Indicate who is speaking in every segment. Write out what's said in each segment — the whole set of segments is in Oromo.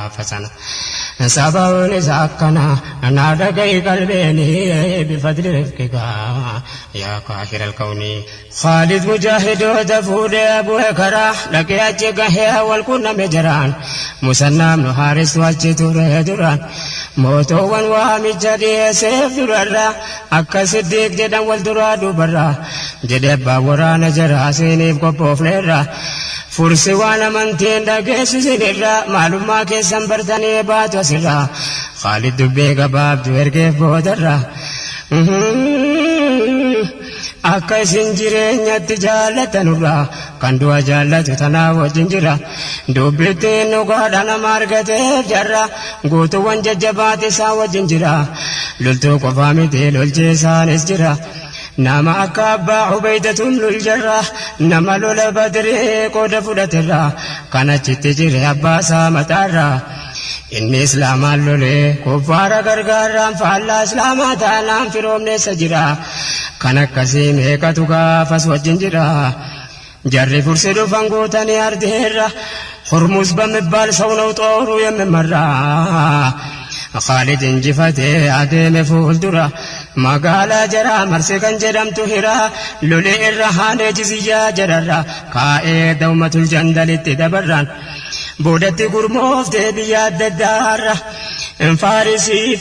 Speaker 1: gaafatan. Sababiin isaa akkana naa dhaga'i qalbeeni bifadli rifqika yaa kaahira alkawni. Khaalid mujaahidoota fuudhee bu'e karaa dhaqee achi gahee wal qunname jaraan. Musannaa ibnu haaristu achi ture duraan. Mootoowwan waamicha dhiyeesseef durarraa akka siddiiq jedhan wal duraa duubarraa. Jedhe abbaan waraana jaraa siiniif qophoofneerra. Fursi waan amantii hin dhageessu sin irra maalummaa keessan bartanii baatu asirra Khaalid dubbee gabaabdu ergeef boodarra akka isin jireenyatti jaallatanurra kan du'a jaallatu tanaa wajjin jira dubbittiin dhugaadha nama argateef jarra guutuuwwan jajjabaati isaan wajjin jira loltuu qofaa miti lolchiisaanis jira Nama akka Abbaa Ubeeydat ibnul Jarraah nama lola Badri qooda fudhaterraa kan achitti jire abbaa isaa mataarraa. Inni Islaamaan lolee kuffaara gargaarraan faallaa Islaamaa taanaan firoomneessa jira. Kan akkasii meeqatu gaafas wajjin jira. Jarri fursii dhufan guutanii ardiirra Hormuuz bamibbaal sawnaw xooruu yemmemarra Khaalid injifatee adeeme fuuldura Magaalaa jaraa marse kan jedhamtu hira Loli irra haanee jiziyyaa jararra kaa'ee Dawmatul jandalitti dabarraan Boodatti gurmooftee biyya adda addaarra Faarisiif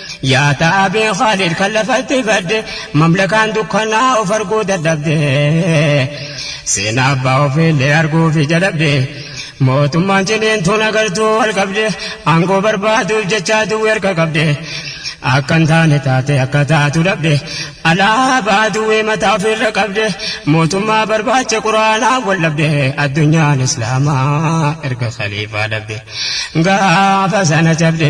Speaker 1: Yaa Taabee Khaalid kan lafatti badde mamlakaan dukkanaa of arguu dadhabde seenaa abbaa ofiillee arguufi jalabde mootummaan ciniintuun agartuu wal qabde aangoo barbaaduuf jechaa duwwi harka qabde akka hin taane taate akka taatu dhabde alaabaa duwwii mataa ofiirra qabde mootummaa barbaacha quraanaa wal dhabde addunyaan islaamaa erga khaliifaa dhabde gaafa sana cabde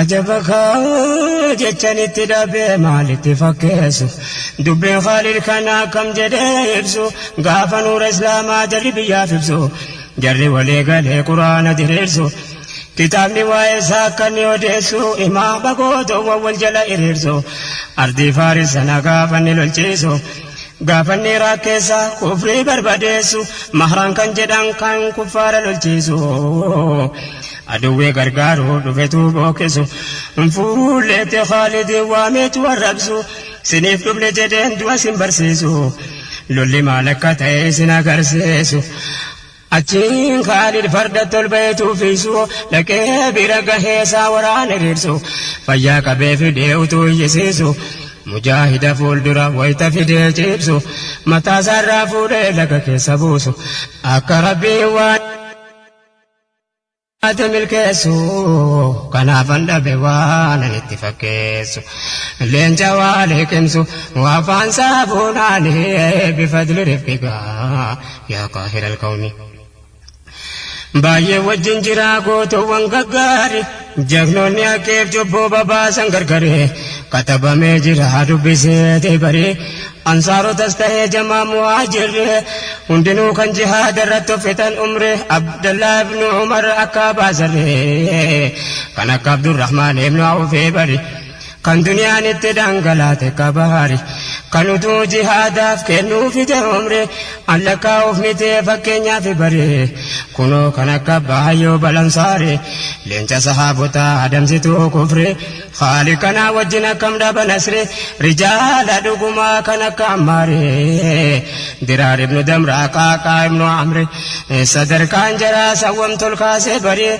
Speaker 1: Ajaba kaa jechan itti dhabee maal itti fakkeessu dubbiin Khaalid kana akkam jedhee ibsu gaafa nuura islaamaa jarri biyyaaf ibsu jarri walii galee quraana diriirsu kitaabni waa'ee isaa akka inni odeessu imaama gootoowwan wal jala hiriirsu ardii faaris sana gaafa inni lolchiisu gaafa inni iraaq keessa kufrii barbadeessu mahraan kan jedhan kan kuffaara lolchiisu. Aduwwi gargaaru dhufetuu bookesu Fuulleetti Khaalidii waameetu arrabsu Siniif dhufne jedheen du'a sin barsiisu Lolli maal akka ta'e isin agarsiisu Achiin Khaalid fardatti ol baheetu fiisu Dhaqee bira gahee isaa waraana hiriirsu Fayyaa qabee fidee utuu iyyisiisu Mujaahida fuuldura wayta fidee ciibsu Mataasaarraa fuudhee laga keessa buusu Akka Rabbiin waan Ati milkeessu kanaafan dhabe waan ani itti fakkeessu leenca waa liqimsu afaan saabuunaani bifadli rifqika yaa qaahira alqawmi baay'ee wajjin jiraa gootoowwan gaggaari. Jagnoonni akkeef cubbuu babaasan gargari katabamee jira dubbiseeti bari ansaarotas tahee jamaa muhaajirri hundinuu kan jihaada irratti uffatan umri abdallaa ibnu umar akka baasarri kan akka abdurrahmaan ibnu awfee bari Kan duniyaan itti dhangalaate ka bahari Kan uduu jihaadaaf kennuu fide umri An lakkaa'uuf mitee fakkeenyaafi bari Kunoo kan akka abbaa Ayyuub al-Ansaari Leenca sahaabotaa adamsituu kufri Khaaliq kanaa wajjin akkam dhaba nasri Rijaala dhugumaa kan akka Ammaari Diraar ibnu Damraa Qaaqaa ibnu Amri Sadarkaan jaraa sawwamtu ol kaasee bari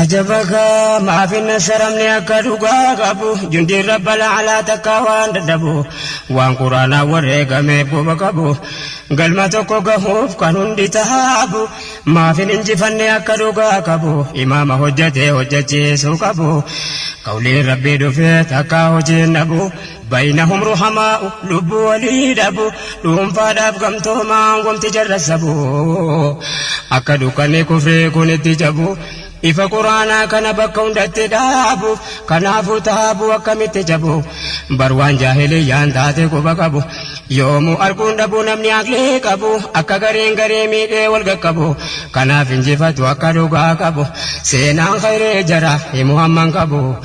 Speaker 1: Ajabaka maafin nasharamne akka dhugaa qabu jundii rabbal alaa takkaa waan dadhabu waan quraanaa wareegameef goba qabu galma tokko gahuuf kan hundi tahaabu maafin injifanne akka dhugaa qabu imaama hojjatee hojjachiisuu qabu qawliin rabbii dhufee takkaa hojiin dhabu Baynahum ruhamaa'u lubbuu walii dhabu dhuunfaadhaaf gamtoomaan wamti jarra sabu akka dukkanni kufree kun itti jabu ifa quraanaa kana bakka hundatti dhaabuuf kanaafuu taabuu akkamitti jabu bar waan jaahiliyyaan taate quba qabu yoomuu arguun dhabu namni aqlii qabu akka gareen garee miidhee wal qaqqabu kanaaf injifatu akka dhugaa qabu seenaan khayree jara himu hamman qabu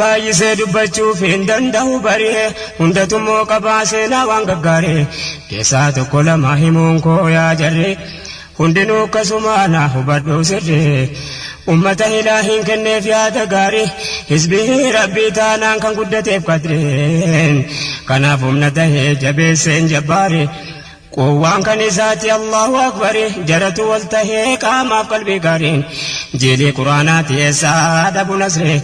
Speaker 1: Baay'isee dubbachuuf hin danda'u baree hundatummoo qabaa seenaa waan gaggaaree keessaa tokko lama himuun koo yaa jarree hundinuu akkasumaa naa hubadhuu sirree ummata hilaa hin kenneef yaada gaarii hizbii rabbii taanaan kan guddateef qadreen kanaaf humna tahee jabeesseen jabbaaree Quwwaan kan isaati Allahu Akbari jaratu wal tahee qaamaaf qalbii gaariin jiilii quraanaati eessaa dhabu nasri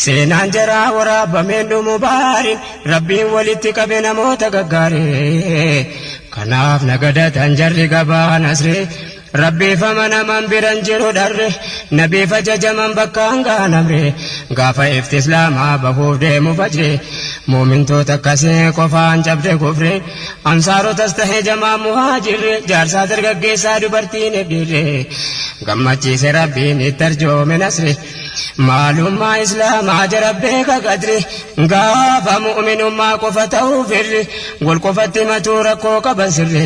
Speaker 1: seenaan jaraa waraabameen dhumu baariin rabbiin walitti qabe namoota gaggaarii kanaaf nagadatan jarri gabaa nasri Rabbiifama naman biran jiru dharre Nabiif ajajaman bakkaan gahan amre Gaafa ifti islaamaa bahuuf deemu fajre Mu'mintoota akkasii qofaan cabde kufre Ansaarotas tahe jamaan muhaajirre Jaarsaa dargaggeessaa dubartiinif dhiirre Gammachiise Rabbiin itti arjoome nasri Maalummaa islaamaa jara beeka qadri Gaafa mu'minummaa qofa tahu firri Wal qofatti himatuu rakkoo qaban sirri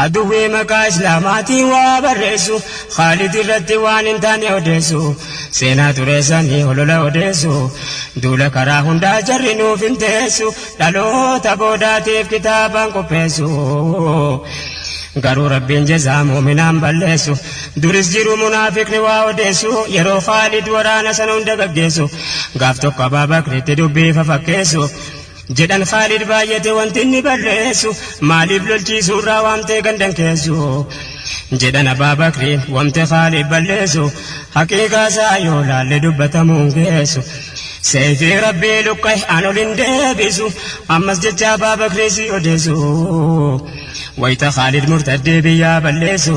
Speaker 1: Aduwwii maqaa Islaamaatiin waa barreessu, Khaalid irratti waan hin taane odeessu, Seenaa xureessanii holola odeessu, Duula karaa hundaa jarri nuuf hin teessu, Dhaloota boodaatiif kitaabaan qopheessu, Garuu Rabbiin jazaa mu'minaan balleessu, Duris jiru munaafiqni waa odeessu, Yeroo Khaalid waraana sana hunda gaggeessu, Gaaf tokko Abaa Bakritti dubbii fafakkeessu, Jedhan Khaalid baayyate wanti inni barreessu maaliif lolchiisuurraa waamtee gandan keessu Jedhan Abbaa Bakriin wamte Khaalid balleessu Haqiiqaasaa yoo laalle dubbatamuun geessu Seeyfii Rabbii luqqa'e an ol hin deebisu Ammas jecha Abbaa Bakrii si odeessu Wayta Khaalid murtaddee biyyaa balleessu